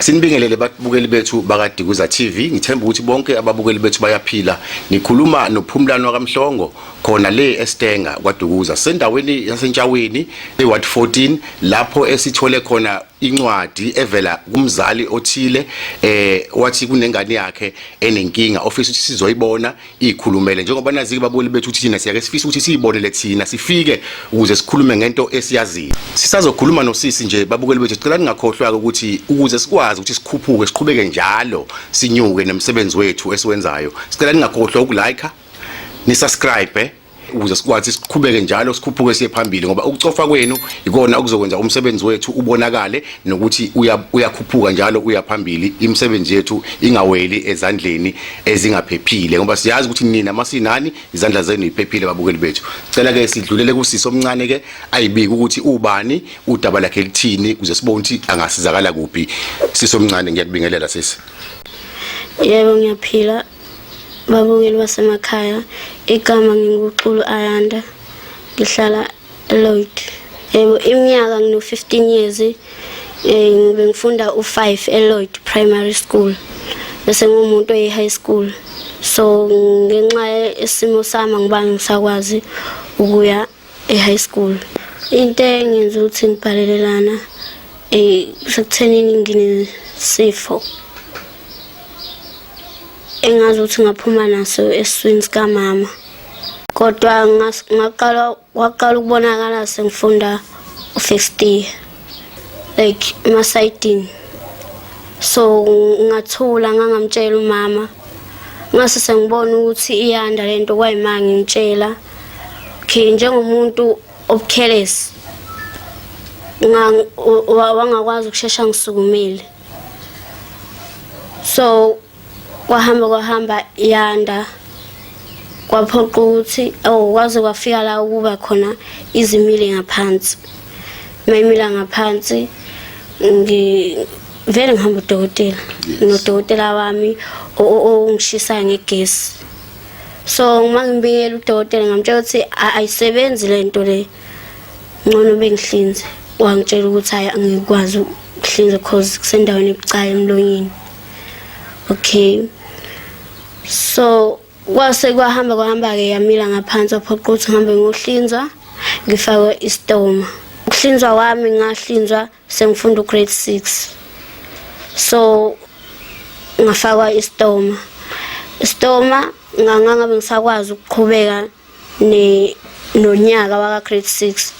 Sinibingelele babukeli bethu bakadikuza TV ngithemba ukuthi bonke ababukeli bethu bayaphila nikhuluma nophumlani wakamhlongo khona le eStenga kwaDukuza sendaweni yaseNtshaweni eWard 14 lapho esithole khona incwadi evela kumzali othile eh wathi kunengane yakhe enenkinga ofisa ukuthi sizoyibona ikhulumele njengoba nazike baboni bethu ukuthi thina siyake sifisa ukuthi siyibonele thina sifike ukuze sikhulume ngento esiyaziyo sisazokhuluma nosisi nje babukeli bethu sicela ningakhohlwa ukuthi ukuze sikwazi ukuthi sikhuphuke siqhubeke njalo sinyuke nemsebenzi wethu esiwenzayo sicela ningakhohlwa ukulike ni subscribe ukuze sikwazi siqhubeke njalo sikhuphuke siye phambili ngoba ukucofa kwenu ikona okuzokwenza umsebenzi wethu ubonakale nokuthi uyakhuphuka njalo uya phambili imisebenzi yethu ingaweli ezandleni ezingaphephile ngoba siyazi ukuthi nina masinani izandla zenu iphephile babukeli bethu cela ke sidlulele kusisi omncane ke ayibike ukuthi ubani udaba lakhe lithini kuze sibone ukuthi angasizakala kuphi sisi omncane ngiyakubingelela sisi yebo ngiyaphila Babukeli basemakhaya, igama nginguXulu Ayanda. Ngihlala eLloyd. Yebo iminyaka ngino-15 years eh ngibe ngifunda u5 eLloyd Primary School. Bese ngumuntu oyi high school. So ngenxa isimo sami ngiba ngisakwazi ukuya e-high school into engenza ukuthi ngibhalelelana eh sekuthenini nginesifo engazi ukuthi ngaphuma naso eswini sikamama kodwa ngaqala waqala ukubonakala sengifunda u-first year like emasidini so ngathula ngangamtshela umama ngase sengibona ukuthi iyanda lento kwayimanga ngitshela okay njengomuntu obukhelesi wangakwazi ukushesha ngisukumile so kwahamba kwahamba yanda kwaphoqa ukuthi oh kwaze kwafika la ukuba khona izimile ngaphansi mayimila ngaphansi ngi vele ngihamba udokotela nodokotela wami ongishisayo ngegesi so uma ngimbikela udokotela ngamtshela ukuthi ayisebenzi le nto le ngcono bengihlinze wangitshela ukuthi hayi angikwazi ukuhlinza cause kusendaweni ebucayi emlonyeni okay so kwase kwahamba kwahamba-ke yamila ngaphansi waphoqa ukuthi ngihambe ngohlinzwa ngifakwe istoma ukuhlinzwa kwami ngahlinzwa sengifunda ugrade 6 so ngafakwa istoma istoma ngangangabe ngisakwazi ukuqhubeka ne nonyaka waka grade 6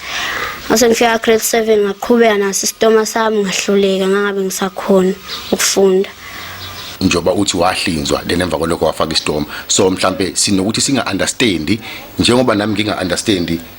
Ngase ngifika grade 7 ngaqhubeka naso isitoma sami ngahluleka ngangabe ngisakhona ukufunda. njengoba uthi wahlinzwa then emva kwalokho wafaka isitoma so mhlambe sinokuthi singa understand njengoba nami nginga understand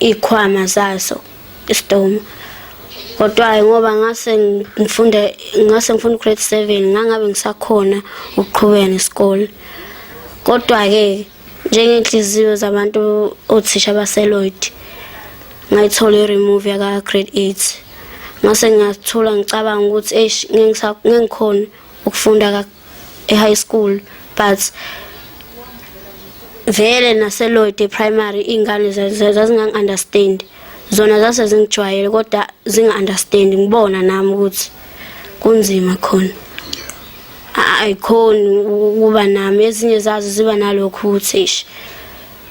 ikhwama zaso isidomo kodwa ngoba ngase ngifunde ngase ngifunda grade 7 ngangabe ngisakhona ukuqhubeka nesikole kodwa ke njengenhliziyo zabantu othisha baseLoyd ngayithola i-remove yaka grade 8 ngase ngathola ngicabanga ukuthi eish ngengikhona ukufunda e-high school but vele naseloyde primary iy'ngane zazingangi-understand zona zase zingijwayele kodwa zinga-understand ngibona nami ukuthi kunzima khona ayikhoni ukuba nami ezinye zazo ziba nalokho ukuthi eish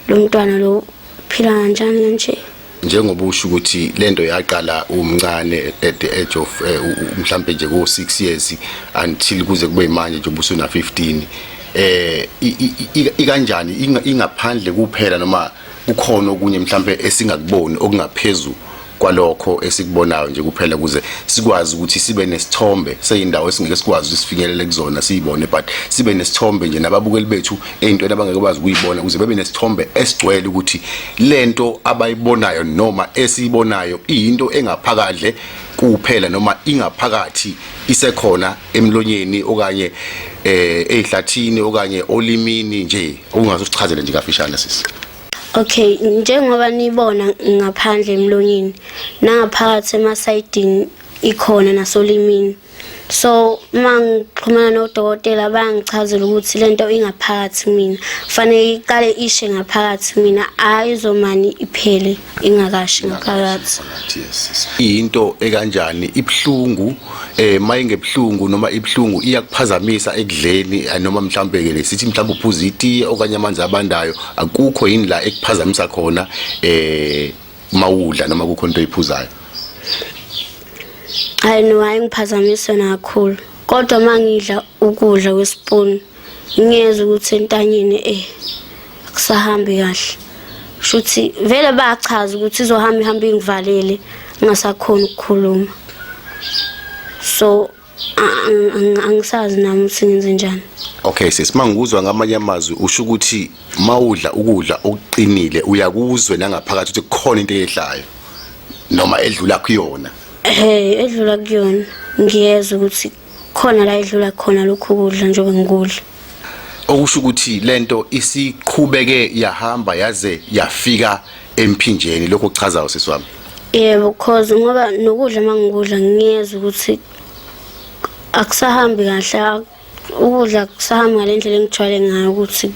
lo mntwana lo phila kanjani kanje njengoba usho ukuthi lento yaqala umncane at the age of eh, mhlambe nje ko 6 years until kuze kube manje nje ubusuna 15 eh ikanjani ingaphandle kuphela noma kukhona okunye mhlambe esingakuboni okungaphezulu kwalokho esikubonayo nje kuphela kuze sikwazi ukuthi sibe nesithombe seyindawo esingeke sikwazi ukuthi sifinyelele kuzona siyibone but sibe nesithombe nje nababukeli bethu ey'ntweni abangeke bazi ukuyibona ukuze bebe nesithombe esigcwele ukuthi le nto abayibonayo noma esiyibonayo iyinto engaphakadle kuphela noma ingaphakathi isekhona emlonyeni okanye eh ezihlathini okanye olimini nje okungaze usichazele nje kafishane sisi Okay njengoba nibona ngaphandle emlonyeni nangaphakathi emasayidini ikhona nasolimini so uma ngixhumana nodokotela bayangichazela ukuthi le nto ingaphakathi mina kufanele iqale ishe ngaphakathi mina hhayi izomane iphele ingakashi ngaphakathi iyinto ekanjani ibuhlungu um eh, uma ingebuhlungu noma ibuhlungu iyakuphazamisa ekudleni eh, noma mhlawumbe-ke le sithi mhlawumbe uphuza itiye okanye amanzi abandayo akukho yini la ekuphazamisa khona um uma udla noma kukho into oyiphuzayo hayi no hayi ngiphazamiswe nakhulu kodwa uma ngidla ukudla kwesipuni ngiyeza ukuthi entanyeni eh akusahambi kahle shuthi vele bachaza ukuthi izohamba ihamba ingivalele ngasakhona ukukhuluma so angisazi nami ukuthi ngenze njani okay sis mangikuzwa ngamanye amazwi usho ukuthi mawudla ukudla okuqinile uyakuzwe nangaphakathi ukuthi kukhona into eyehlayo noma edlula kuyona hey edlula kuyona ngiyezwa ukuthi khona la edlula khona lokhu kudla njengoba ngikudla okusho ukuthi lento isiqhubeke yahamba yaze yafika emphinjeni lokho kuchazayo sisi wami yebo cause ngoba nokudla mangikudla ngiyeza ukuthi akusahambi kahle ukudla kusahamba ngalendlela engijwayele ngayo ukuthi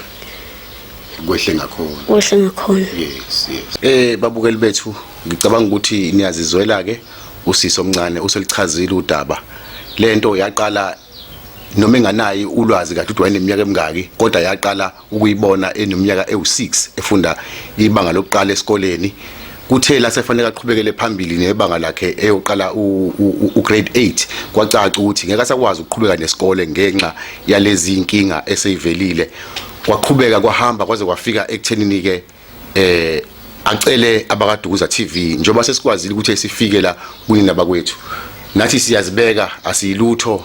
kwehle ngakhona kwehle ngakhona yes yes eh babukeli bethu ngicabanga ukuthi niyazizwela ke usisi omncane uselichazile udaba lento yaqala noma enganayi ulwazi kathi wayeneminyaka emingaki kodwa yaqala ukuyibona eneminyaka ewu-6 efunda ibanga lokuqala esikoleni kuthe lasefanele aqhubekele phambili nebanga lakhe eyoqala ugrade 8 kwacaca ukuthi ngeke asakwazi ukuqhubeka nesikole ngenxa yalezi inkinga eseyivelile kwaqhubeka kwahamba kwaze kwafika ekuthenini-ke eh acele abakadukuza TV njengoba sesikwazile ukuthi sifike la kunina bakwethu nathi siyazibeka asiyilutho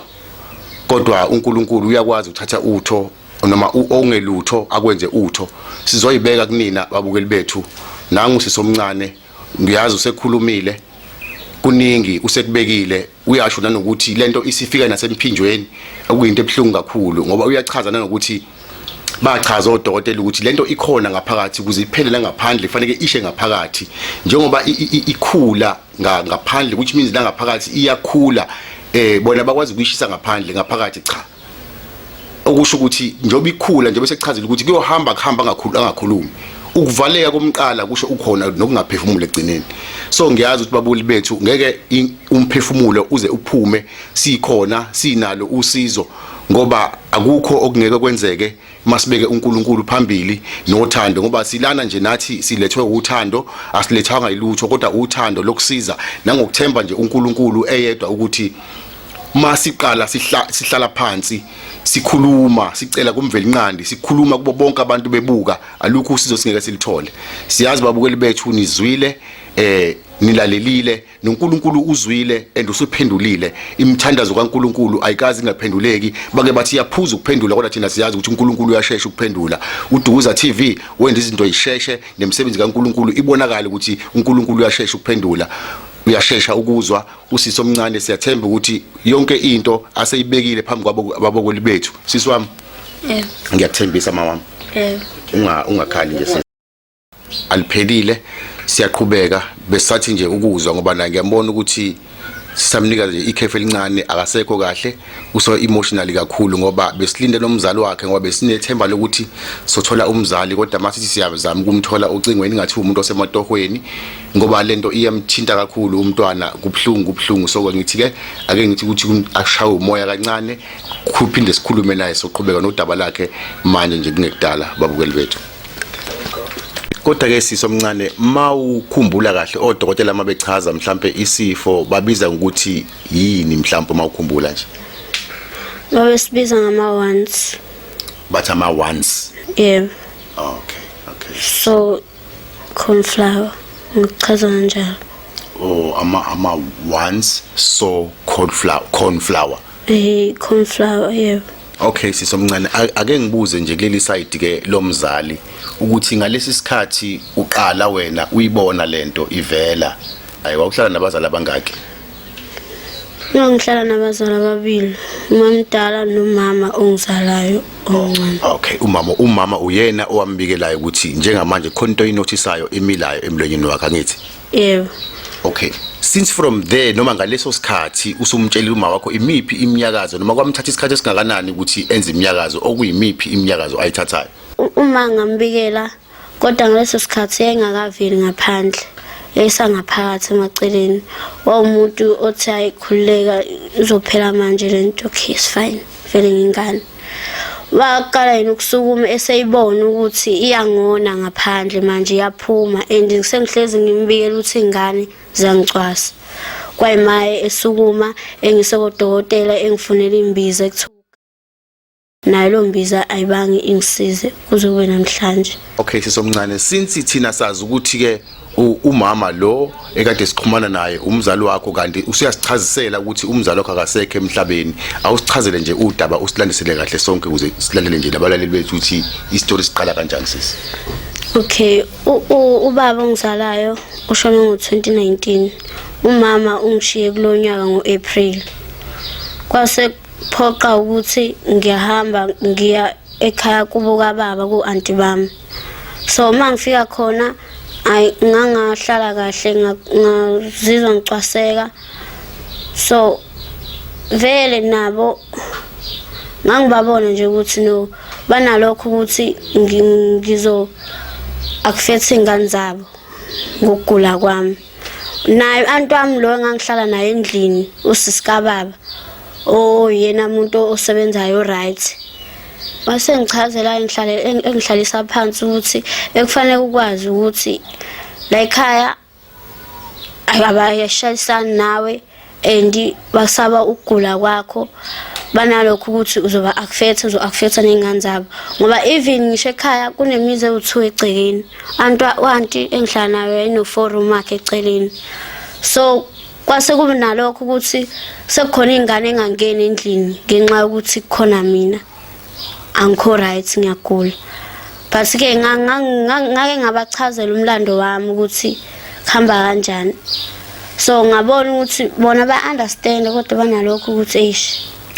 kodwa uNkulunkulu uyakwazi uthatha utho noma ongelutho akwenze utho sizoyibeka kunina babukeli bethu nangu sisomncane ngiyazi usekhulumile kuningi usekubekile uyasho nanokuthi lento isifika nasemphinjweni okuyinto ebuhlungu kakhulu ngoba uyachaza nanokuthi bachaza odokotela ukuthi lento ikhona ngaphakathi ukuze iphele la ngaphandle kufanele ishe ngaphakathi njengoba ikhula ngaphandle which means la ngaphakathi iyakhula eh bona bakwazi ukuyishisa ngaphandle ngaphakathi cha okusho ukuthi njengoba ikhula njengoba sekuchazile ukuthi kuyohamba kuhamba angakhulu angakhulumi ukuvaleka komqala kusho ukhona nokungaphefumula egcineni so ngiyazi ukuthi babuli bethu ngeke umphefumulo uze uphume sikhona sinalo usizo ngoba akukho okungeke kwenzeke masibeke uNkulunkulu phambili nothando ngoba silana nje nathi silethwe uthando asilethanga ilutho kodwa uthando lokusiza nangokuthemba nje uNkulunkulu eyedwa ukuthi masiqala sihla sihlala phansi sikhuluma sicela kumvelinqandi sikhuluma kubo bonke abantu bebuka alukho usizo singeke silithole siyazi babukeli bethu nizwile eh nilalelile noNkulunkulu uzwile and usuphendulile imithandazo kaNkulunkulu ayikazi ingaphenduleki bake bathi yaphuza ukuphendula kodwa thina siyazi ukuthi uNkulunkulu uyashesha ukuphendula uDukuza TV wenza izinto isheshe nemisebenzi kaNkulunkulu ibonakala ukuthi uNkulunkulu uyashesha ukuphendula uyashesha ukuzwa usisi omncane siyathemba ukuthi yonke into aseyibekile phambi kwababokoli bethu sisi wami ngiyakuthembisa mawami ungakhali nje aliphelile siyaqhubeka besathi nje ukuzwa ngoba na ngiyambona ukuthi sisamnika nje ikhefu elincane akasekho kahle uso emotionally kakhulu ngoba besilinde nomzali wakhe ngoba besinethemba lokuthi sothola umzali kodwa masithi siyazama ukumthola ocingweni ngathi umuntu osematohweni ngoba lento iyamthinta kakhulu umntwana kubhlungu kubhlungu so ngithi ke ake ngithi ukuthi ashawe umoya kancane kuphinde sikhulume naye soqhubeka nodaba lakhe manje nje kungekudala babukeli bethu kodwa ke sisi omncane mawukhumbula kahle odokotela uma bechaza mhlambe isifo babiza ukuthi yini mhlambe uma ukhumbula nje babe sibiza ngama ones bathi ama ones yeah okay okay so cornflower ngichaza kanjalo oh ama ama ones so cornflower cornflower Hey cornflower yebo. Okay sisomncane ake ngibuze nje kuleli side ke lomzali ukuthi ngalesi sikhathi uqala wena uyibona lento ivela ayi wawuhlala nabazali abangaki Mina ngihlala nabazali ababili umamdala nomama ongizalayo omncane oh, Okay umama umama uyena owambikelayo ukuthi njengamanje khona into oyinothisayo emilayo emlonyeni wakhe angithi yebo okay since from there noma ngaleso sikhathi usumtshela uma wakho imiphi imnyakazo noma kwamthatha isikhathi esingakanani ukuthi enze imnyakazo okuyimiphi imnyakazo ayithathayo uma ngambikela kodwa ngaleso sikhathi engakaveli ngaphandle esangaphakathi emaceleni wawumuntu othi ayikhululeka izophela manje lento okay is fine vele ngingane waqala yena ukusukuma eseyibona ukuthi iyangona ngaphandle manje iyaphuma and ngisengihlezi ngimbikela ukuthi ingane ziyangicwasa kwayimaye esukuma engise kodokotela engifunela imbiza ekuthiwa nayo lo mbiza ayibange ingisize kuze kube namhlanje okay sisomncane since thina sazi ukuthi ke umama lo ekade siqhumana naye umzali wakho kanti usuyasichazisela ukuthi umzali wakho akasekho emhlabeni awusichazele nje udaba usilandisele kahle sonke ukuze silalele nje nabalaleli bethu ukuthi istory siqala kanjani sisi okay ubaba ongizalayo ushone ngo-2019 umama ungishiye kulo nyaka ngo-april kwase kuphoqa ukuthi ngiyahamba ngiya ekhaya kubo kababa ku-anti bami so uma ngifika khona ayi ngangahlala kahle ngazizwa ngicwaseka so vele nabo ngangibabona nje ukuthi no banalokho ukuthi ngizo akufethi ingane zabo ngokugula kwami naye anti wami lo engangihlala naye endlini usisi kababa oyena oh, muntu osebenzayo right wase ngichazela engihlale engihlalisa phansi ukuthi ekufanele ukwazi ukuthi la ekhaya abayashayisani nawe and basaba ukugula kwakho banalokho ukuthi uzoba akufetha uzo akufetha nezingane zabo ngoba even ngisho ekhaya kunemizi ewuthiwa egcekeni anti wanti engihlala nayo enoforum wakhe eceleni so kwase kube nalokho ukuthi sekukhona ingane engangeni endlini ngenxa yokuthi kukhona mina angikho right ngiyagula but ke ngake ngabachazela umlando wami ukuthi kuhamba kanjani so ngabona ukuthi bona ba understand kodwa banalokho ukuthi eish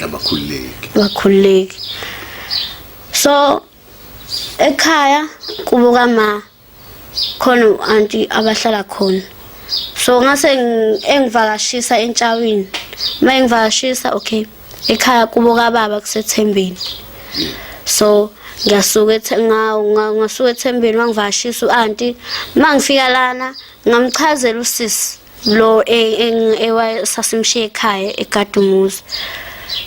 abakhululeki bakhululeki so ekhaya kubuka ma khona u-anti abahlala khona so ngase engivakashisa entshawini uma engivakashisa okay ekhaya kubo kababa kusethembeni so ngiyasuka ngasuka ethembeni wangivakashisa u-anti uma ngifika lana ngamchazela usisi lo ewasasimshiye e, e, ekhaya egadumuzi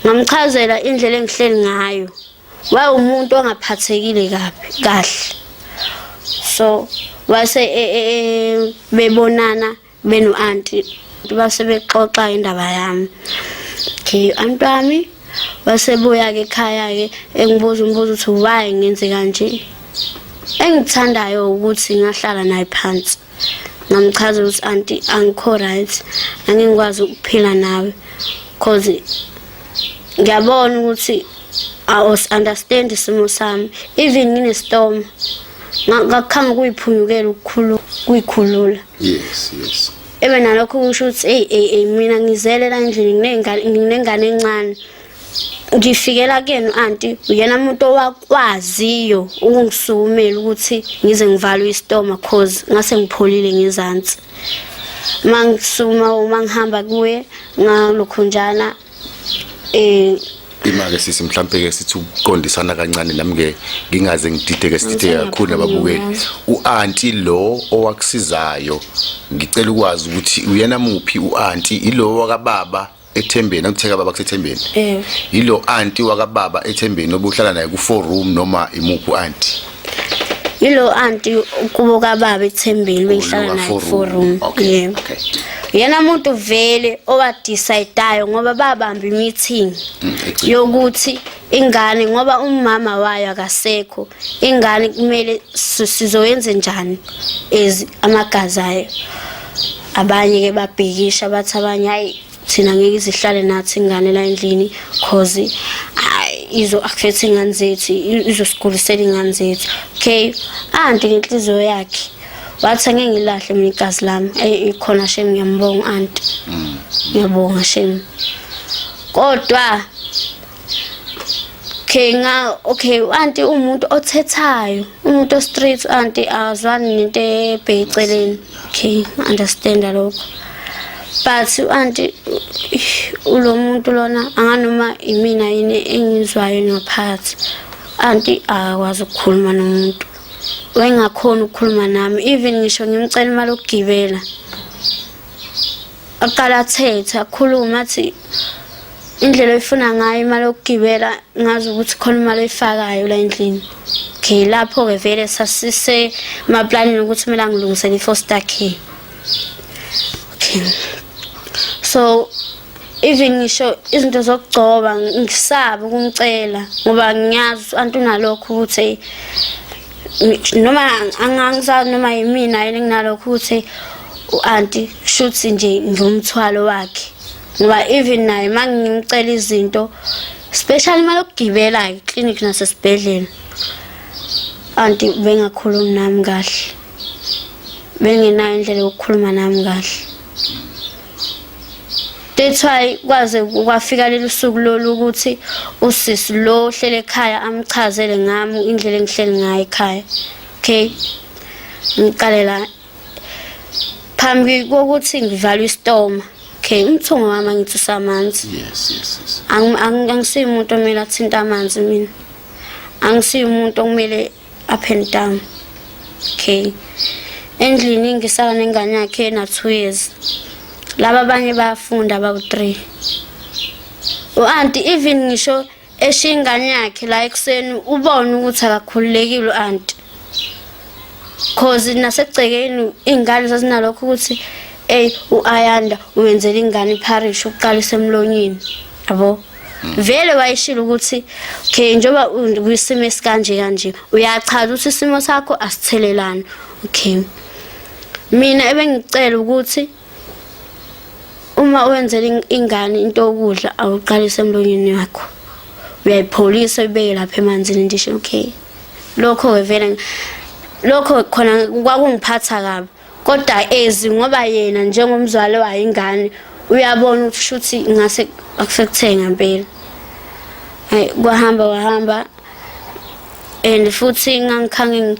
ngamchazela indlela engihleli ngayo wawumuntu ongaphathekile kabi kahle so wase e, e, e, bebonana benu anti base bexoxa indaba yami okay anti wami wasebuya ke ekhaya ke engibuza umbuzo ukuthi why ngenze kanje engithandayo ukuthi ngahlala naye phansi ngamchaza ukuthi anti angikho right angikwazi ukuphila nawe cause ngiyabona ukuthi awus understand isimo sami even ngine storm ngakukhama kuyiphunyukela ukukhulu kuyikhulula yes yes ebe nalokho kusho ukuthi hey hey hey mina ngizele la endlini nginengane nginengane encane ngifikela kuyena anti uyena umuntu owakwaziyo ukungisukumela ukuthi ngize ngivalwe isitoma cause ngase ngipholile ngezansi mangisuma uma ngihamba kuye ngalokhunjana eh imake sisi mhlambe ke sithi ukuqondisana kancane nami ke ngingaze ngidideke sidideke kakhulu nababukeli uanti lo owakusizayo ngicela ukwazi ukuthi uyena muphi uanti ilo wakababa ethembeni akutheka baba kusethembeni eh yilo aunti wakababa ethembeni obuhlala naye ku four room noma imuphu aunti yilo aunti kubo kababa ethembeni behlala naye ku four room okay okay yena muntu vele owa decideayo ngoba babamba imeeting mm, yokuthi ingane ngoba umama wayo akasekho ingane kumele sizoyenze njani ezi amagazi ayo abanye ke babhikisha bathi abanye hayi thina ngeke izihlale nathi ingane la endlini cause izo affect ingane zethu izosigulisela ingane zethu okay anti ngenhliziyo yakhe wathi ngeke ngilahle mina igazi lami ikhona shem ngiyambonga anti mm. ngiyabonga shem kodwa okay nga okay anti umuntu othethayo umuntu ostreet anti azwani nento ebheceleni okay understand lokho but anti ulo muntu lona anganoma imina yini engizwayo ngaphathi anti akwazi ukukhuluma nomuntu wengakhona ukukhuluma nami even ngisho ngimcela imali okugibela aqala athethe akhulume athi indlela oyifuna ngayo imali yokugibela ngazi ukuthi khona imali oyifakayo la endlini okay lapho-ke vele sasise maplanini ukuthi kumele angilungisele i-foster care okay so even ngisho izinto zokugcoba ngisaba ukumcela ngoba ngiyazi antunalokho ukuthi noma angangisazi noma yimina yini nginalokho ukuthi u-anti shuthi nje ngumthwalo wakhe ngoba even naye uma ngimcela izinto special imali yokugibela eclinic nasesibhedlela anti bengakhulumi nami kahle bengenayo indlela yokukhuluma nami kahle That's why kwaze kwafika leli suku lolu ukuthi usisi lo ohlele ekhaya amchazele ngami indlela engihleli ngayo ekhaya. Okay. Ngiqale la. Phambi kokuthi ngivalwe isitoma. Okay, umthungo wami ngithi usamanzi. Yes, yes, yes. Angisiyi umuntu omele athinte amanzi mina. Angisiyi umuntu okumele up and down okay endlini ngisala nengane yakhe na-two years laba abanye bayafunda bawu-three u-anti even ngisho eshiya ingane yakhe la ekuseni ubone ukuthi akakhululekile u-anti cause nasegcekeni iy'ngane zazinalokho ukuthi eyi u-ayanda wenzela ingane iparish ukuqalisa emlonyeni yabo vele wayishilo ukuthi okay njengoba kwisimo esikanje kanje uyachaza ukuthi isimo sakho asithelelani okay mina ebengicela ukuthi uma wenzela ingane into yokudla awuqalise emlonyeni wakho uyayipholisa ibeke lapha emanzini ndisho okay lokho ke vele lokho khona kwakungiphatha kabi kodwa ezi ngoba yena njengomzwali wayo ingane uyabona ukuthi shuthi ngase akusekuthenge ngempela hey kwahamba wahamba and futhi ngangikhange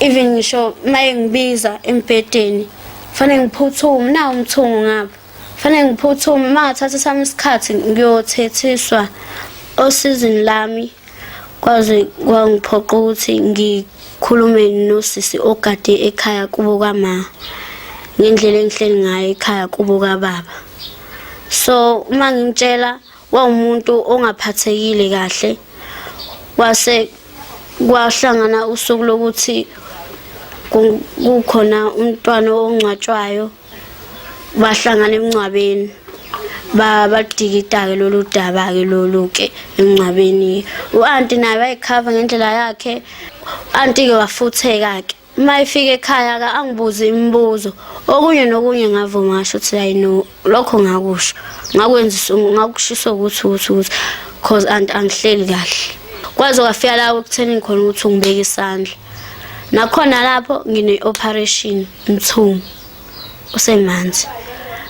even ngisho maye ngibiza embhedeni fanele ngiphuthume na umthungo ngapha fanele ngiphuthume uma ngathatha sami isikhathi ngiyothethiswa osizini lami kwaze kwangiphoqa ukuthi ngikhulume nosisi ogade ekhaya kubo kama ngendlela engihleli ngayo ekhaya kubo kababa so uma ngimtshela wawumuntu ongaphathekile kahle wase kwahlangana usuku lokuthi kukhona umntwana ongcwatshwayo bahlangana emncwabeni badikita-ke lolu daba-ke lolu-ke emncwabeni u-anti naye wayikhava ngendlela yakhe anti-ke wafutheka-ke uma efika ekhaya ka angibuze imibuzo okunye nokunye ngavuma ngasho ukuthi hayi no lokho ngakusho ngakwenzisa ngakushisa ukuthi ukuthi ukuthi cause anti angihleli kahle kwaze kwafika la ekutheni khona ukuthi ungibeke isandla nakhona lapho ngine-operation Mthungu usemanzi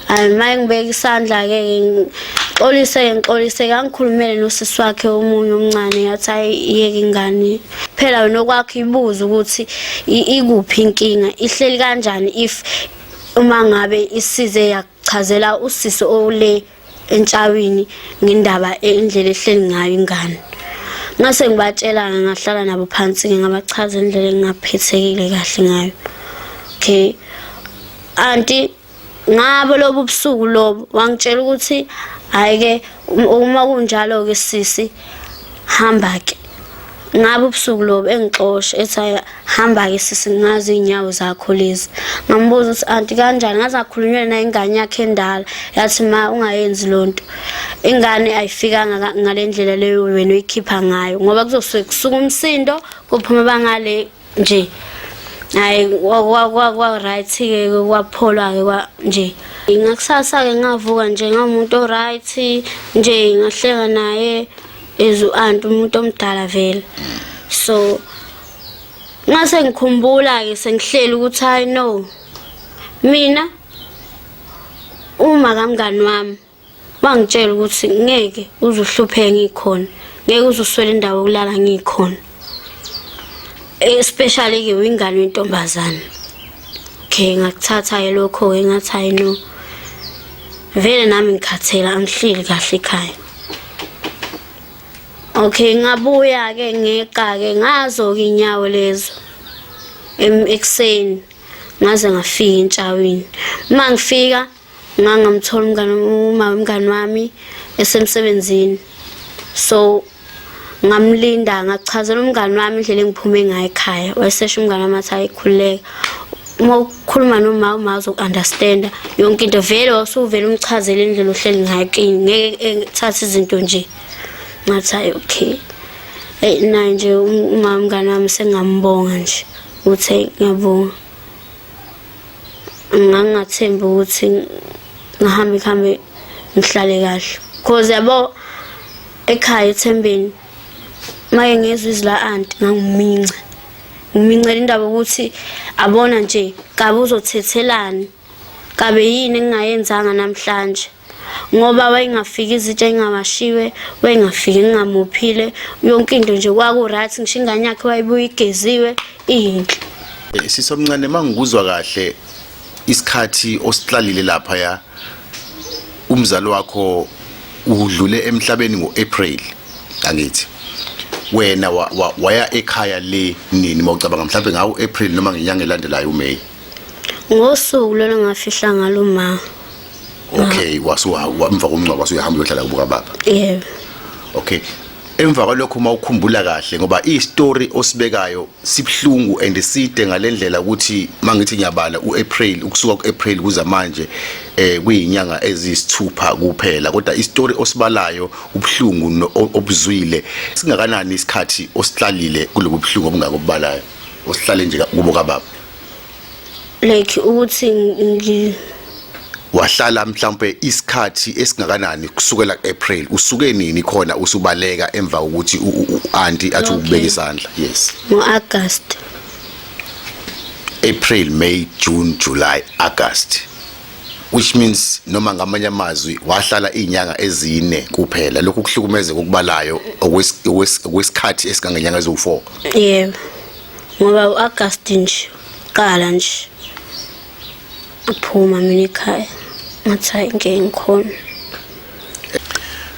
hayi uma engibeka isandla-ke ngixolise ngixolise kangikhulumele nosisi wakhe omunye omncane yathi ayiyeke ingane phela wena okwakho ibuze ukuthi ikuphi inkinga ihleli kanjani if uma ngabe isize yakuchazela usisi ole entshawini ngendaba indlela ehleli ngayo ingane ngase ngibatshela ngahlala nabo phansi ngingabachaza indlela engingaphethekile kahle ngayo okay anti ngabo lobu busuku lobu wangitshela ukuthi hayi ke uma kunjalo ke sisi hamba ke ngabe ubusuku lobu engixosha ethi hamba-ke sisi ngazi iy'nyawo zakho lezi ngambuza ukuthi anti kanjani ngaze akhulunywe naye ingane yakhe endala yathi ma ungayenzi loo nto ingane ayifikanga ngale ndlela leyo wena uyikhipha ngayo ngoba kuzosuke kusuka umsindo kuphuma bangale nje hayi kwa-right-ke kwapholwa-ke kwa nje ngakusasa-ke ngavuka nje ngamuntu o-right nje ngahleka naye as u-anti umuntu omdala vele so ngase ngikhumbula-ke sengihleli ukuthi hayi no mina uma kamngani wami wangitshela ukuthi ngeke uzuhlupheke ngikhona ngeke uzuswela indawo yokulala ngikhona especially ke wingane yentombazane okay ngakuthatha ke lokho ke ngathi hayi no vele nami ngikhathela angihleli kahle ekhaya okay ngabuya ke ngeqa ke ngazo ke inyawo lezo ekuseni ngaze ngafika entshawini uma ngifika ngangamthola umngane uma umngane wami esemsebenzini so ngamlinda ngachazela umngane wami indlela engiphume ngayo ekhaya wayesesho umngane wami athi ayikhululeka uma ukhuluma noma uma uzokunderstanda yonke into vele wasuvele umchazele indlela ohleli ngayo kini ngeke ethathe izinto nje ngathi hayi okay eyi naye nje umama mngane wami sengambonga nje uthe ngiyabonga ngangingathembi ukuthi ngihambe kuhambe ngihlale kahle cause yabo ekhaya ethembeni maye ngezwe izila anti ngangiminca ngimincela indaba ukuthi abona nje kabe uzothethelani kabe yini engingayenzanga namhlanje ngoba wayengafiki izitsha engawashiwe wayengafiki ngingamuphile yonke into nje kwaku-right ngisho ingane yakhe wayebuye igeziwe iyinhle eh, sisi omncane uma ngikuzwa kahle isikhathi osihlalile lapha ya umzali wakho udlule emhlabeni ngo-april angithi wena waya ekhaya le nini mawucabanga mhlawumbe ngawo April noma ngenyanga elandelayo uMay ngosuku lona ngafihla ngalo ma okay wasuha wamva komncwaba wasuyahamba uyohlala kubuka baba yebo okay emva kwalokho uma ukhumbula kahle ngoba i-story osibekayo sibhlungu and side ngalendlela ukuthi mangithi ngiyabala uApril ukusuka kuApril kuza manje eh kuyinyanga ezisithupha kuphela kodwa i-story osibalayo ubhlungu obuzwile singakanani isikhathi osihlalile kulobu bhlungu obungakubalayo osihlale nje kubo kababa like ukuthi ngi wahlala mhlawumbe isikhathi esingakanani kusukela kuApril usuke nini khona usubaleka emva kokuthi uanti athi ukubeka isandla yes ngoAugust April May June July August which means noma ngamanye amazwi wahlala izinyanga ezine kuphela lokhu kuhlukumezeka ukubalayo okwesikhathi esikangenyanga eziwu4 yebo ngoba u-agast nje qala nje aphuma mina ekhaya ngathi hayi ngeke ngikhona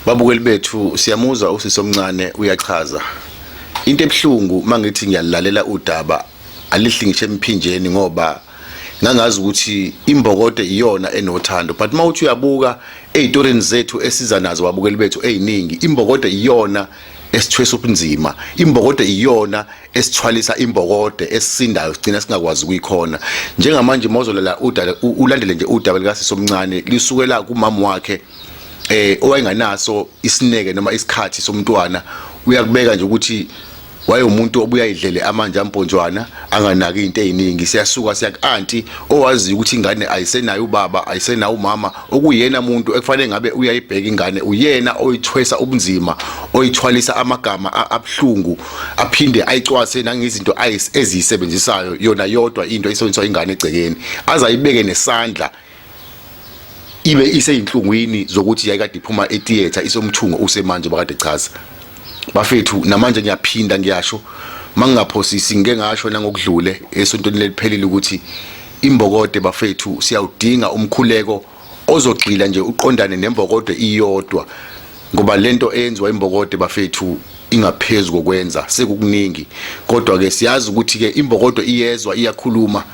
babukeli bethu siyamuzwa usisi omncane uyachaza into ebuhlungu mangithi ngiyalalela udaba alihli ngisho emphinjeni ngoba ngangazi ukuthi imbokodo iyona enothando but mawuthi uyabuka ezitorini zethu esiza nazo babukeli bethu eziningi imbokodo iyona esithwesa ubunzima imbokode iyona esithwalisa imbokode esisindayo sigcina singakwazi ukuyikhona njengamanje mawuzolela ulandele nje udaba likasisi omncane lisukela kumama wakhe eh owayenganaso isineke noma isikhathi somntwana uyakubeka nje ukuthi wayewumuntu obuya idlele amanje amponjwana anganaki into eziningi siyasuka siya kuanti owazi ukuthi ingane ayisenayo ubaba ayisenayo umama okuyena muntu ekufanele ngabe uyayibheka ingane uyena oyithwesa ubunzima oyithwalisa amagama abuhlungu aphinde ayicwase nangezinto eziyisebenzisayo yona yodwa into isebenziswa ingane egcekeni azayibeke nesandla ibe iseyinhlungwini zokuthi yayikade iphuma etheater isomthungo usemanje bakade chaza bafethu namanje ngiyaphinda ngiyasho mangingaphosisi ngike ngasho nangokudlule esontweni leliphelile ukuthi Imbokode bafethu siyawudinga umkhuleko ozogxila nje uqondane nembokode iyodwa ngoba lento eyenziwa imbokode bafethu ingaphezulu kokwenza sekukuningi kodwa ke siyazi ukuthi ke imbokodo iyezwa iyakhuluma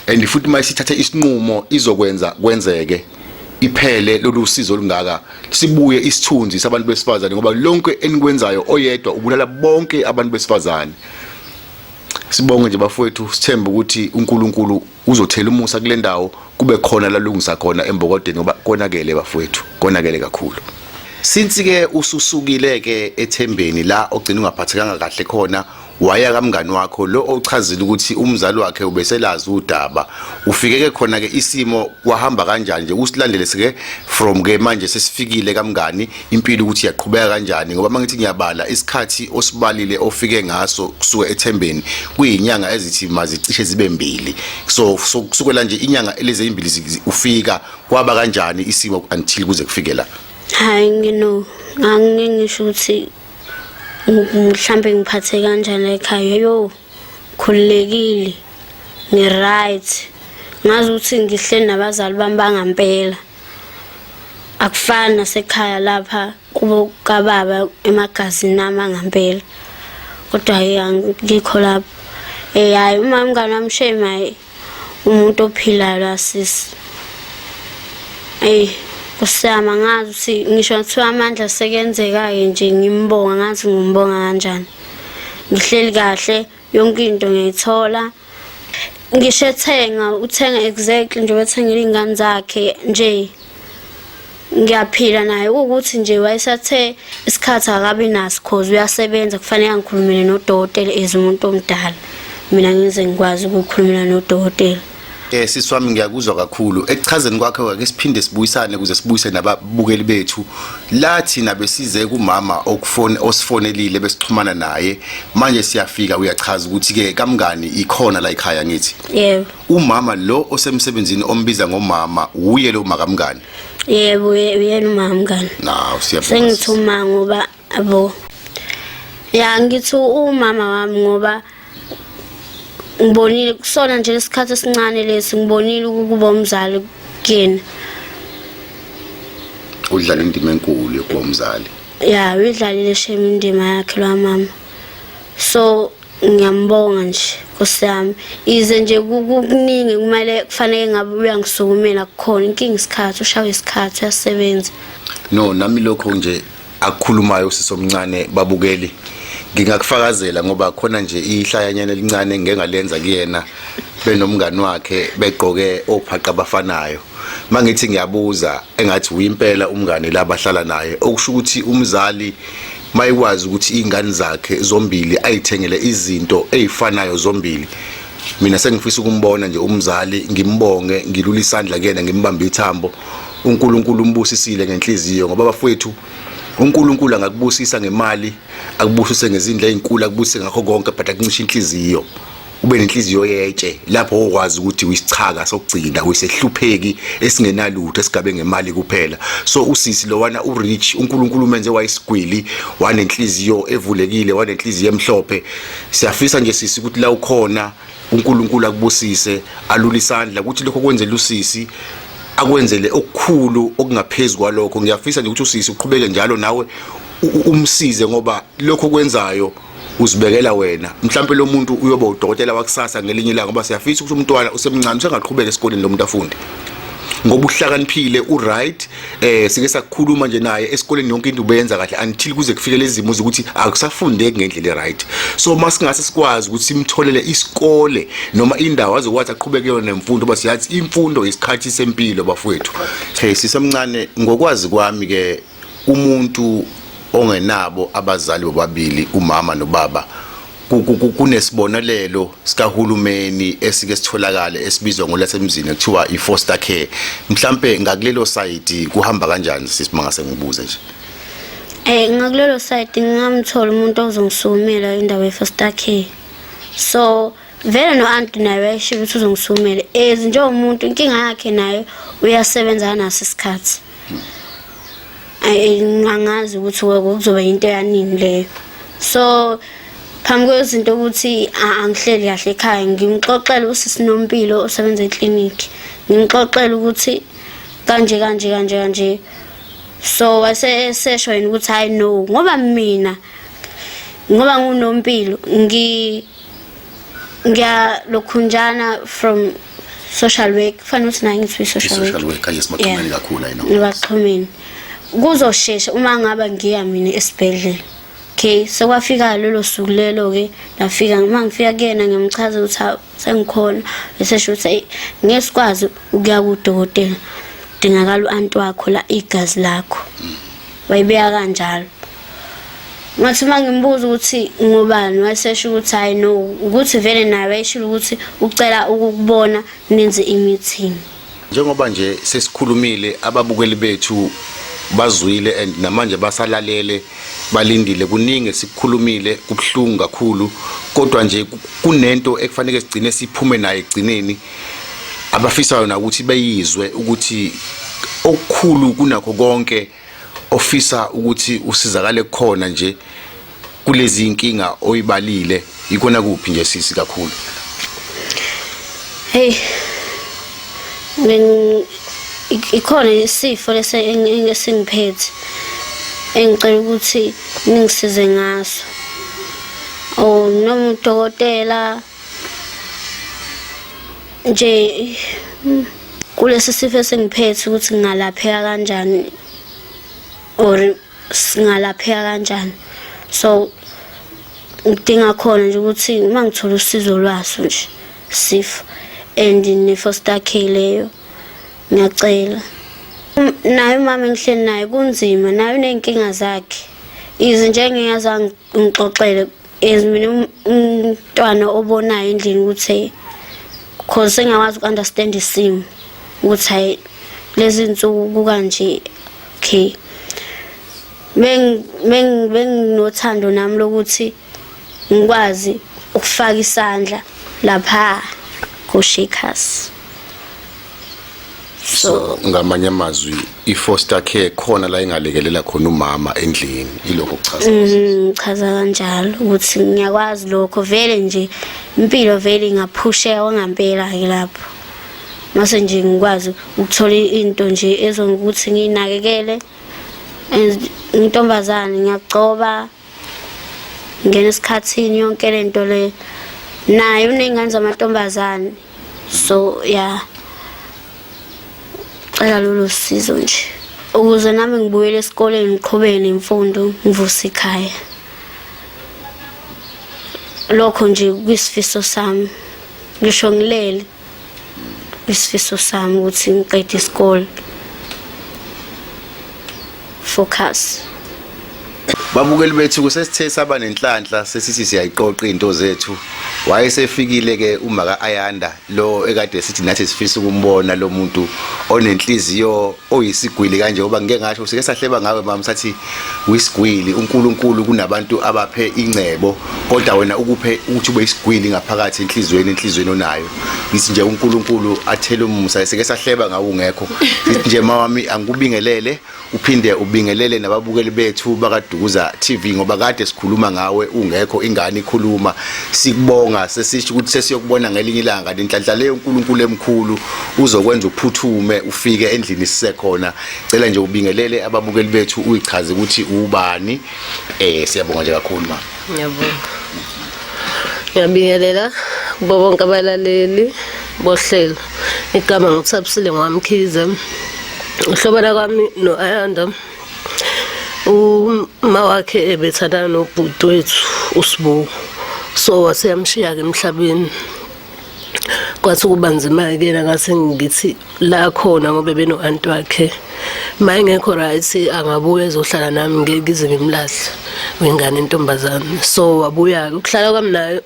and futhi uma isithathe isinqumo izokwenza kwenzeke iphele lolu sizo olungaka sibuye isithunzi sabantu besifazane ngoba lonke enikwenzayo oyedwa ubulala bonke abantu besifazane Sibonge nje bafowethu sithembe ukuthi uNkulunkulu uzothela umusa kule ndawo kube khona lalungisa khona embokodeni ngoba konakele bafowethu konakele kakhulu since ke ususukile ke ethembeni la ogcina ungaphathekanga kahle khona waya kamngani wakho lo ochazile ukuthi umzali wakhe ubeselazi udaba ufike ke khona ke isimo kwahamba kanjani nje usilandele sike from ke manje sesifikile kamngani impilo ukuthi iyaqhubeka kanjani ngoba mangithi ngiyabala isikhathi osibalile ofike ngaso kusuka ethembeni kuyinyanga ezithi mazicishe zibe mbili so kusukela nje inyanga eleze imbili ufika kwaba kanjani isimo until kuze kufike la hayi ngino angingisho ukuthi mhlambe ngiphathe kanjani ekhaya yo khululekile ngi right ngazi ukuthi ngihle nabazali bami bangampela akufani nasekhaya lapha kubo kababa emagazini nami angampela kodwa ngikho lapho eh hayi uma umngane wami shame hayi umuntu ophilayo la sisi eyi kusiyama ngazi ukuthi ngisho kuthiwa amandla sekenzeka-ke nje ngimbonga ngazi ngimbonga kanjani ngihleli kahle yonke into ngiyithola ngisho ethenga uthenga exactly nje wethengela iy'ngane zakhe nje ngiyaphila naye ukuthi nje wayesathe isikhathi akabi naso cause uyasebenza kufanele angikhulumele nodokotela as umuntu omdala mina ngize ngikwazi ukukhulumela nodokotela Eh sisi wami ngiyakuzwa kakhulu. Ekuchazeni kwakhe wake siphinde sibuyisane ukuze sibuyise nababukeli bethu. La thina besize kumama okufone osifonelile besixhumana naye. Manje siyafika uyachaza ukuthi ke kamngani ikhona la ekhaya ngithi. Yebo. Umama lo osemsebenzini ombiza ngomama uye lo makamngani. Yebo uyena umama mngani. Naw siyabonga. Sengithuma ngoba abo ya ngithi umama wami ngoba ngibonile kusona nje lesikhathi esincane lesi ngibonile ukuba umzali kuyena udlala indima enkulu yokuba umzali ya uyidlalile shame indima yakhe lo mama so ngiyambonga nje nkosi yami ize nje kukuningi kumele kufanele ngabe uyangisukumela kukhona inkinga isikhathi ushawa isikhathi uyasebenza no nami lokho nje akukhulumayo usisi omncane babukeli ngingakufakazela ngoba khona nje ihlayanyana elincane ngengalenza kuyena benomngani wakhe begqoke ophaqa abafanayo mangithi ngiyabuza engathi uyimpela umngani labahlala naye okusho ukuthi umzali mayikwazi ukuthi izingane zakhe zombili ayithengele izinto ezifanayo zombili mina sengifisa ukumbona nje umzali ngimbonge ngilula isandla kuyena ngimbambe ithambo uNkulunkulu umbusisile ngenhliziyo ngoba bafowethu uNkulunkulu angakubusisa ngemali akubusise ngezindla ezinkulu akubusise ngakho konke but akuncisha inhliziyo ube nenhliziyo yetshe lapho okwazi ukuthi uyisichaka sokugcina uyisehlupheki esingenalutho esigabe ngemali kuphela so usisi lowana urich uNkulunkulu umenze wayisigwili wanenhliziyo evulekile wanenhliziyo emhlophe siyafisa nje sisi ukuthi la ukhona uNkulunkulu akubusise alulisandla ukuthi lokho kwenzela usisi akwenzele okukhulu okungaphezulu kwalokho ngiyafisa nje ukuthi usisi uqhubeke njalo nawe umsize ngoba lokho kwenzayo uzibekela wena mhlawumbe lo muntu uyoba udokotela wakusasa ngelinye ilanga ngoba siyafisa ukuthi umntwana usemncane usengaqhubeka esikoleni lo muntu afunde ngoba uhlakaniphile uright eh sike sakukhuluma nje naye esikoleni yonke into ubenza kahle until kuze kufike lezimo ukuthi akusafundeki ngendlela eright so masingase sikwazi ukuthi simtholele isikole noma indawo azokwazi aqhubeke kuyona nemfundo base yathi imfundo isikhathi sempilo bafowethu hey sisemncane ngokwazi kwami ke umuntu ongenabo abazali bobabili umama nobaba kunesibonelelo sikahulumeni esike sitholakale esibizwa ngolasemzini ekuthiwa i-foster care mhlampe ngakulelo side kuhamba kanjani sisi mangase ngibuze nje Eh ngakulelo side ngingamthola umuntu ozongisukumela indawo ye-foster care so vele no aunt naye wayesho ukuthi uzongisumela as njengomuntu inkinga yakhe naye uyasebenza naso isikhathi angazi ukuthi kuzoba into yanini leyo so phambi kwezinto ukuthi angihleli kahle ekhaya ngimxoxele usisi nompilo osebenza eclinic ngimxoxele ukuthi kanje kanje kanje kanje so wase esesho yena ukuthi hayi no ngoba mina ngoba ngunompilo ngi ngiyalokhunjana from social work kufanele ukuthi naye ngithi social work social work yes maxhumeni kakhulu ayina ngibaxhumeni kuzoshesha uma ngaba ngiya mina esibhedlela okay sekwafika lelo suku lelo ke nafika uma ngifika kuyena ngimchaza ukuthi sengikhona bese sho ukuthi ngesikwazi ukuya kudokotela dingakala uanti wakho la igazi lakho mm. wayibeka kanjalo ngathi uma ngimbuza ukuthi ngobani wayesesho ukuthi hayi no ukuthi vele naye wayeshilo ukuthi ucela ukukubona nenze i-meeting njengoba nje sesikhulumile ababukeli bethu bazwile and namanje basalalele balindile kuningi sikukhulumile kubuhlungu kakhulu kodwa nje kunento ekufanele sigcine siphume naye egcineni abafisayo na ukuthi beyizwe ukuthi okukhulu kunakho konke ofisa ukuthi usizakale kukhona nje kulezi inkinga oyibalile ikona kuphi nje sisi kakhulu hey min ikhona isifo lese engingiphethe engicela ukuthi ningisize ngaso oh noma udokotela nje kulesi sifo esingiphethe ukuthi ngingalapheka kanjani or singalapheka kanjani so ngidinga khona nje ukuthi uma ngithola usizo lwaso nje sifo and ne-foster care leyo ngiyacela naye umama engihleli naye kunzima naye uney'nkinga zakhe izinto engingazange ngixoxele Yes mina um- umntwana obonayo endlini ukuthi cause sengakwazi ukunderstand isimo ukuthi hayi lezi nsuku kukanje okay Beng beng benginothando nami lokuthi ngikwazi ukufaka isandla lapha ku Shakers. so ngamanye amazwi i-foster care khona la ingalekelela khona umama endlini ilokho kuchaza mm, chaza kanjalo ukuthi ngiyakwazi lokho vele nje impilo vele ingaphusheka wangampela ke lapho mase nje ngikwazi ukuthola into nje ezongukuthi nginakekele intombazane ngiyagcoba ngena esikhathini yonke lento le naye uney'ngane zamantombazane so yeah cela lolu sizo nje ukuze nami ngibuyele esikoleni ngiqhubeke nemfundo ngivuse ikhaya lokho nje kwisifiso sami ngisho ngilele isifiso sami ukuthi ngiqede isikole focus Babukeli bethu kusesithe saba nenhlanhla sesithi siyayiqoqa izinto zethu. Wayesefikile ke uma ka Ayanda lo ekade sithi nathi sifisa ukumbona lo muntu onenhliziyo oyisigwili kanje ngoba ngike ngasho sike sahleba ngawe mama sathi wisigwili uNkulunkulu kunabantu abaphe ingcebo kodwa wena ukuphe ukuthi ube isigwili ngaphakathi enhlizweni enhlizweni onayo. ngithi nje uNkulunkulu athele umusa sike sahleba ngawo ungekho ngithi nje mawami angikubingelele uphinde ubingelele nababukeli bethu bakadukuza TV ngoba kade sikhuluma ngawe ungekho ingane ikhuluma sikubonga sesisho ukuthi sesiyokubona ngelinye ilanga inhlanhla leyo uNkulunkulu emkhulu uzokwenza uphuthume ufike endlini sisekhona cela nje ubingelele ababukeli bethu uyichaze ukuthi ubani eh siyabonga nje kakhulu ma Ngiyabonga. Ngiyabingelela kubo bonke abalaleli bohlelo. Igama ngithabisile ngwamkhize. Uhlobana kwami no-Ayanda uma wakhe ebethandana nobhuti wethu uSibuko so waseyamshiya-ke emhlabeni kwathi ukuba nzima-ke kena ngase ngithi la khona ngoba beno-anti wakhe ma engekho right angabuya ezohlala nami ngeke ngize ngimlahle wengane intombazane so wabuya-ke ukuhlala kwami nayo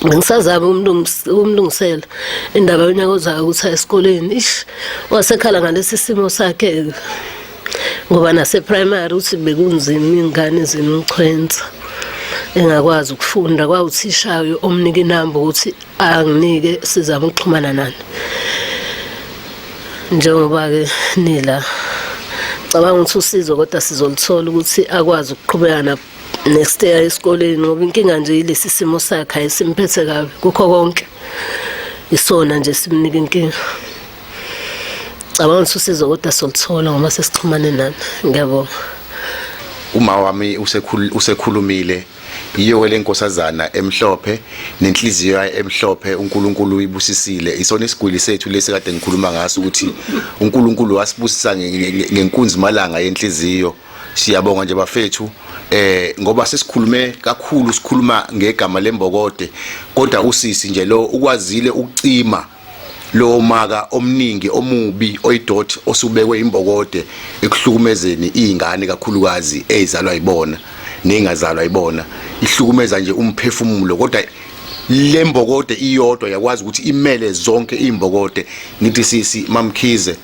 bengisazama ukumlungisela indaba yonyaka ozayo ukuthi aye esikoleni ish wasekhala ngalesi simo sakhe-ke ngoba naseprimary uthi bekunzima iy'ngane zimchwensa engakwazi ukufunda kwawuthishayo omnika inamba ukuthi anginike sizama ukuxhumana nani njengoba-ke nila cabanga ukuthi usizo kodwa sizoluthola ukuthi akwazi ukuqhubeka na next year esikoleni ngoba inkinga nje yilesi simo sakhe ayisimphethe kabi kukho konke isona nje simnika inkinga cabanga ukuthi usizo kodwa soluthola ngoba sesixhumane nami ngiyabonga uma wami usekhulumile yiyo ke lenkosazana emhlophe nenhliziyo yayo emhlophe uNkulunkulu uyibusisile isona isigwili sethu lesi kade ngikhuluma ngaso ukuthi uNkulunkulu wasibusisa ngenkunzi malanga yenhliziyo siyabonga nje bafethu eh ngoba sesikhulume kakhulu sikhuluma ngegama lembokode kodwa usisi nje lo ukwazile ukucima lo maka omningi omubi oyidot osubekwe imbokode ekuhlukumezeni izingane kakhulukazi ezalwa ibona nengazalwa ibona ihlukumeza nje umphefumulo kodwa lembokode iyodwa yakwazi ukuthi imele zonke imbokode ngithi sisi mamkhize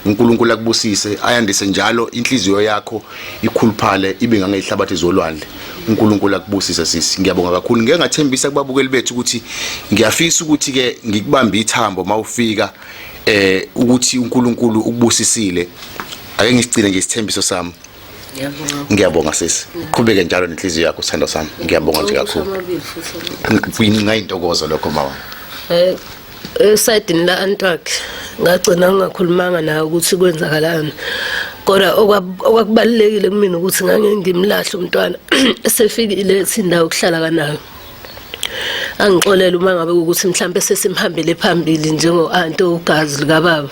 uNkulunkulu akubusise ayandise njalo inhliziyo yakho ikhuluphale ibe ngangehlabathi zolwandle uNkulunkulu akubusise sisi ngiyabonga kakhulu ngeke ngathembisa kubabukeli bethu ukuthi ngiyafisa ukuthi ke ngikubambe ithambo mawufika eh ukuthi uNkulunkulu ukubusisile ake ngisigcine nje isithembiso sami ngiyabonga sisi uqhubeke njalo nenhliziyo yakho sithando sami ngiyabonga nje kakhulu kuyincinga intokozo lokho mama eh, esayidini la antwakhe ngagcina ngingakhulumanga naye ukuthi kwenzakalani kodwa okwakubalulekile kumina ukuthi ngangengimlahle umntwana esefikile ethi indawo okuhlala kanayo angixolele uma ngabe ukuthi mhlawumbe sesimhambele phambili njengo-anti ogazi likababa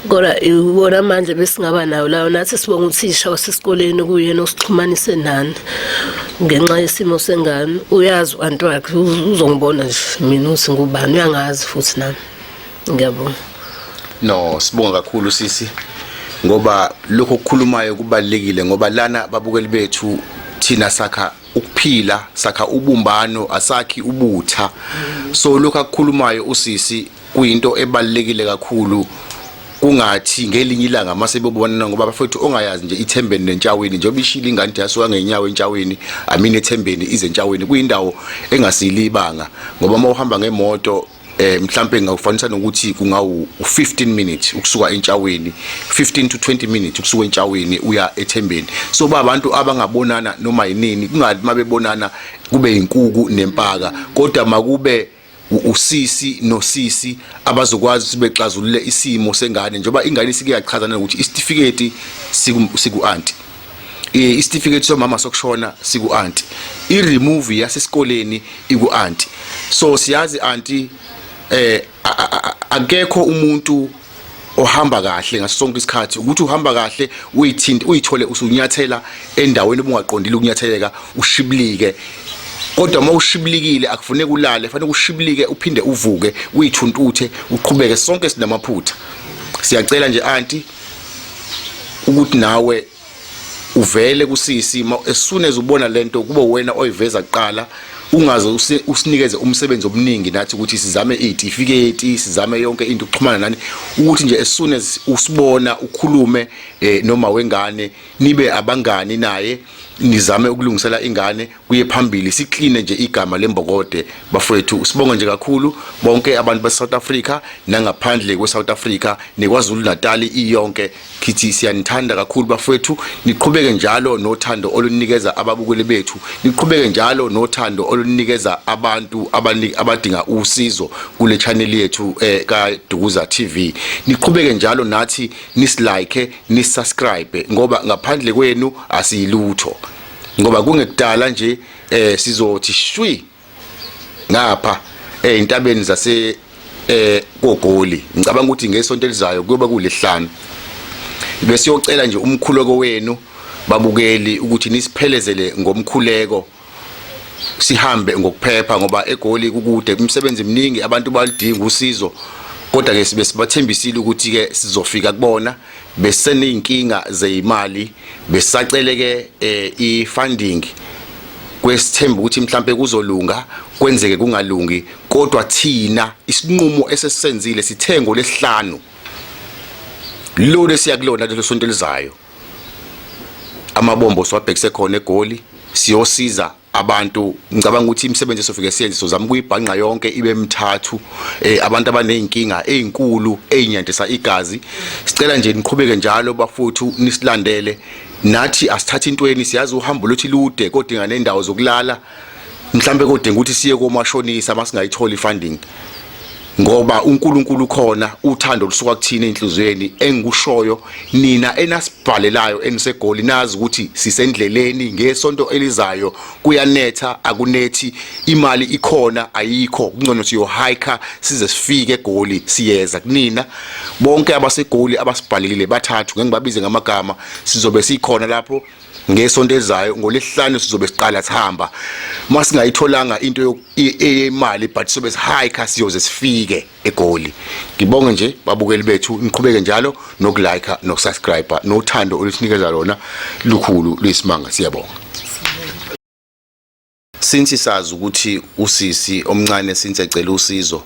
kodwa iwona manje besingaba nawo lawo nathi sibonga uthisha wasesikoleni kuyena osixhumanise nani ngenxa yesimo sengane uyazi u-anti wakhe uzongibona nje mina ukuthi ngubani uyangazi futhi nami ngiyabonga no sibonga kakhulu sisi ngoba lokho okukhulumayo kubalekile ngoba lana babukeli bethu thina sakha ukuphila sakha ubumbano asakhi ubutha so lokho akukhulumayo usisi kuyinto ebalekile kakhulu kungathi ngelinye ilanga mase bebonana ngoba bafethu ongayazi nje ithembeni nentshaweni njengoba ishila ingane yasuka ngenyawo entshaweni amini ethembeni izentshaweni kuyindawo engasili ibanga ngoba uma uhamba ngemoto eh mhlambe ngawufanisa nokuthi kungawu 15 minutes ukusuka entshaweni 15 to 20 minutes ukusuka entshaweni uya ethembeni so ba abantu abangabonana noma yinini kungathi mabebonana kube inkuku nempaka kodwa makube usisi nosisi abazokwazi sibexazulule isimo sengane njengoba ingane isike yachazana ukuthi isitifiketi siku anti eh, isitifiketi somama sokushona siku aunti i remove yasesikoleni iku aunti so siyazi aunti eh akekho umuntu ohamba kahle ngaso sonke isikhathi ukuthi uhamba kahle uyithinta uyithole usunyathela endaweni obungaqondile ukunyatheleka ushibilike kodwa uma ushibilikile akufuneki ulale fanele ushibilike uphinde uvuke uyithuntuthe uqhubeke sonke sinamaphutha siyacela nje anti ukuthi nawe uvele kusisi as soon as ubona lento kube wena oyiveza kuqala ungaze usinikeze umsebenzi omningi nathi ukuthi sizame itifiketi sizame yonke into ukuxhumana nani ukuthi nje as soon as usibona ukhulume eh, noma wengane nibe abangani naye nizame ukulungisela ingane kuye phambili sikline nje igama lembokode bafowethu sibonga nje kakhulu bonke abantu baseSouth Africa nangaphandle kweSouth Africa nekwaZulu Natal iyonke khithi siyanithanda kakhulu bafowethu niqhubeke njalo nothando olunikeza ababukeli bethu niqhubeke njalo nothando olunikeza abantu abadinga usizo kule channel yethu eh, ka Dukuza TV niqhubeke njalo nathi nislike nisubscribe ngoba ngaphandle kwenu asiyilutho ngoba kungekudala nje eh sizothi shwi ngapha eh intabeni zase eh kogoli ngicabanga ukuthi ngesonto elizayo kuyoba kulihlanu bese yocela nje umkhuleko wenu babukeli ukuthi nisiphelezele ngomkhuleko sihambe ngokuphepha ngoba egoli kukude umsebenzi mningi abantu balidinga usizo kodwa ke sibe sibathembisile ukuthi ke sizofika kubona beseney'nkinga zeyimali besaceleke eh, i-funding kwesithemba ukuthi mhlampe kuzolunga kwenzeke kungalungi kodwa thina isinqumo esesenzile sithengo lesihlanu lo lesiya kulona lelo sonto elizayo amabombo siwabhekise khona egoli siyosiza abantu ngicabanga ukuthi imisebenzi esofike siyenze sozama ukuyibhanqa yonke ibe mthathu eh abantu abanezinkinga ezinkulu ezinyandisa igazi sicela nje niqhubeke njalo bafuthu nisilandele nathi asithatha intweni siyazi uhambo lothi lude kodinga nendawo zokulala mhlambe kodinga ukuthi siye komashonisa masingayitholi funding ngoba uNkulunkulu ukhona uthando lusuka kuthina enhlizweni engikushoyo nina enasibhalelayo enisegoli nazi ukuthi sisendleleni ngesonto elizayo kuyanetha akunethi imali ikhona ayikho kungcono siyo hiker size sifike egoli siyeza kunina bonke abasegoli abasibhalelile bathathu ngeke ngibabize ngamagama sizobe sikhona lapho ngesonto elizayo ngolesihlanu sizobe siqala sihamba masingayitholanga into eyemali but sobe sihike siyoze sifike egoli ngibonge nje babukeli bethu niqhubeke njalo nokulike nokusubscribe nothando olusinikeza lona lukhulu luyisimanga siyabonga Since sazi ukuthi usisi omncane since ecela usizo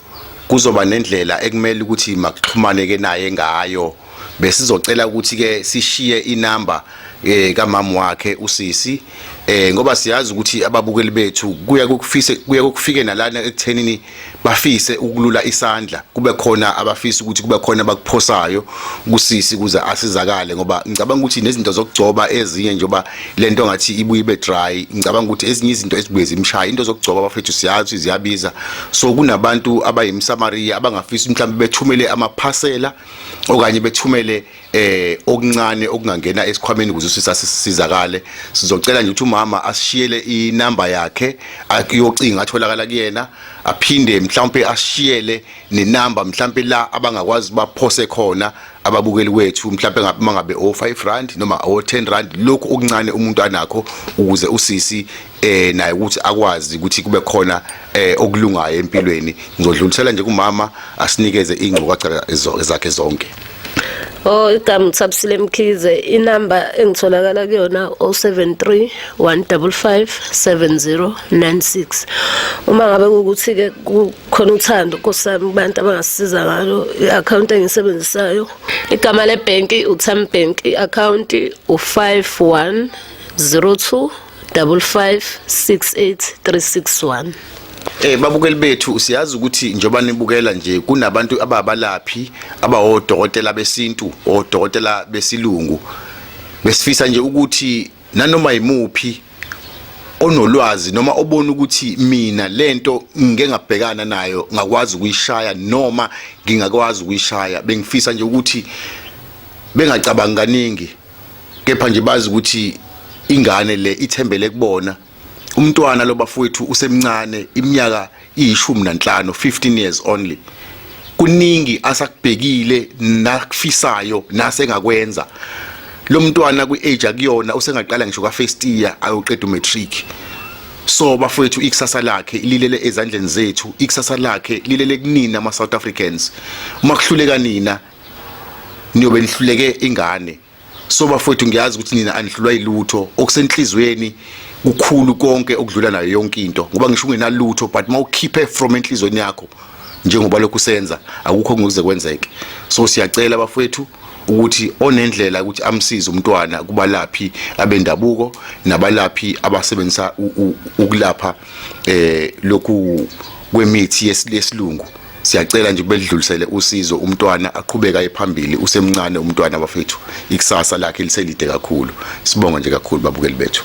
kuzoba nendlela ekumele ukuthi makuxhumane ke naye ngayo besizocela ukuthi ke sishiye inamba eh kamama wakhe usisi eh ngoba siyazi ukuthi ababukeli bethu kuya kukufise kuya kukufike nalana ekuthenini bafise ukulula isandla kube khona abafisa ukuthi kube khona abakuphosayo kusisi kuze asizakale ngoba ngicabanga ukuthi nezinto zokugcoba ezinye njengoba lento ngathi ibuye ibe dry ngicabanga ukuthi ezinye izinto ezibuye zimshaya into zokugcoba bafethu siyazi ziyabiza so kunabantu abayimsamaria abangafisa mhlawumbe bethumele amaphasela okanye bethumele eh okuncane okungangena esikhwameni ukuze usisa sisizakale sizocela nje ukuthi umama asishiyele inamba yakhe ayocinga atholakala kuyena aphinde mhlawumbe ashiyele nenamba mhlawumbe la abangakwazi baphose khona ababukeli kwethu mhlawumbe ngabe mangabe o 5 rand noma o 10 rand lokho okuncane umuntu anakho ukuze usisi eh naye ukuthi akwazi ukuthi kube khona eh okulungayo empilweni ngizodlulisela nje kumama asinikeze ingcukaca zakhe zonke Oh igama uthabisile Mkhize inamba engitholakala kuyona 073 155 7096 Uma ngabe ukuthi ke kukhona uthando nkosami kubantu abangasiza ngalo iaccount engisebenzisayo igama lebank uTham Bank iaccount u51 02 5568361 Eh babukeli bethu siyazi ukuthi njoba nibukela nje kunabantu ababalaphi abawodokotela besintu odokotela besilungu besifisa nje ukuthi nanoma yimuphi onolwazi noma obona ukuthi mina lento ngike ngabhekana nayo ngakwazi ukuyishaya noma ngingakwazi ukuyishaya bengifisa nje ukuthi bengacabangi kaningi kepha nje bazi ukuthi ingane le ithembele kubona umntwana lo bafowethu usemncane iminyaka iyishumi nanhlanu 15 years only kuningi asakubhekile nakufisayo nasengakwenza lo mntwana kwi-age akuyona usengaqala ngisho ka-first year ayoqeda umatric so bafowethu ikusasa lakhe lilele ezandleni zethu ikusasa lakhe lilele kunina ama-south africans uma kuhluleka nina niyobe nihluleke ingane so bafowethu ngiyazi ukuthi nina anihlulwa yilutho okusenhlizweni kukhulu konke okudlula nayo yonke into ngoba ngisho ungenalutho but mawukhiphe from enhlizweni yakho njengoba lokhu senza akukho ngokuze kwenzeke so siyacela bafowethu ukuthi onendlela ukuthi amsize umntwana kubalaphi abendabuko nabalaphi abasebenzisa ukulapha eh lokhu kwemithi yesilungu siyacela nje kubelidlulisele usizo umntwana aqhubeka ephambili usemncane umntwana bafethu ikusasa lakhe liselide kakhulu sibonga nje kakhulu babukeli bethu